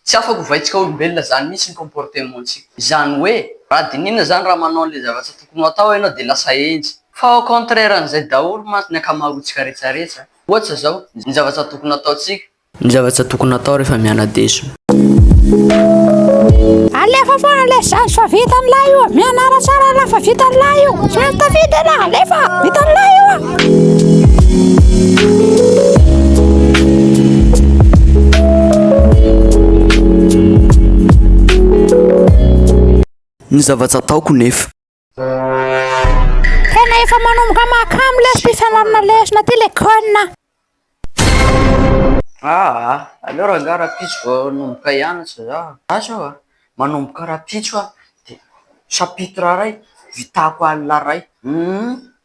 Tsy afaka ho vaintsika olombelona zany mihitsy ny comportement ntsika. Izany hoe, raha dinihina zany raha manao an'le zavatra tokony ho atao enao de lasa henjy. Fa au contraire an'izay daholo mantsy ny ankamaroantsika rehetrarehetra. Ohatra zao, ny zavatra tokony ataontsika. Ny zavatra tokony atao rehefa miana-deso. Alefa foana ilay zandry fa vitan'lah io a! Mianara tsara ianao fa vitan'lah io! Tsy maintsy tafita ianao, alefa! Vitan'lah io a! Ny zava-tsy ataoko nefa. Tena efa manomboka mahakamo le fifanarana lesona ty le kona. Aa aleo rangah rapitso vao hanomboka hianatra za gasy aho a, manomboka rapitso aho de chapitre iray vitako alina iray humm.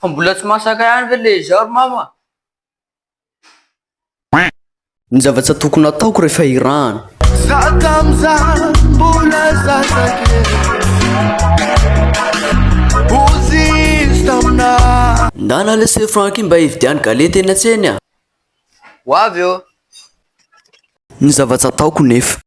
Fa mbola tsy masaka ihany ve le izao ry mama? Ny zavatra tokony hataoko rehefa hirahana. Za tamza mbola zaza kely ozy izy taminah. Ndana le ce francky mba hividiano galety eny an-tsena a! Ho avy eo. Ny zavatra ataoko nefa.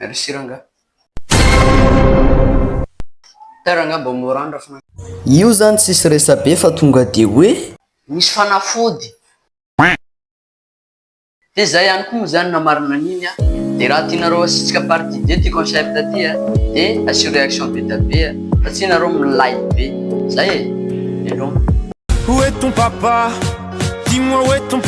Merci rangah. Tara angaha mba mora any raha fanafody. Io zany tsisy resabe fa tonga de hoe. Misy fanafody. De zay ihany koa moa zany na marina an'iny a. De raha tianareo asitsika partie deux ty concept ty a de asio reaction be da be a. Fa tsy nareo milay be. Zay e. Veloma. Où est ton papa? Dis-moi où est ton.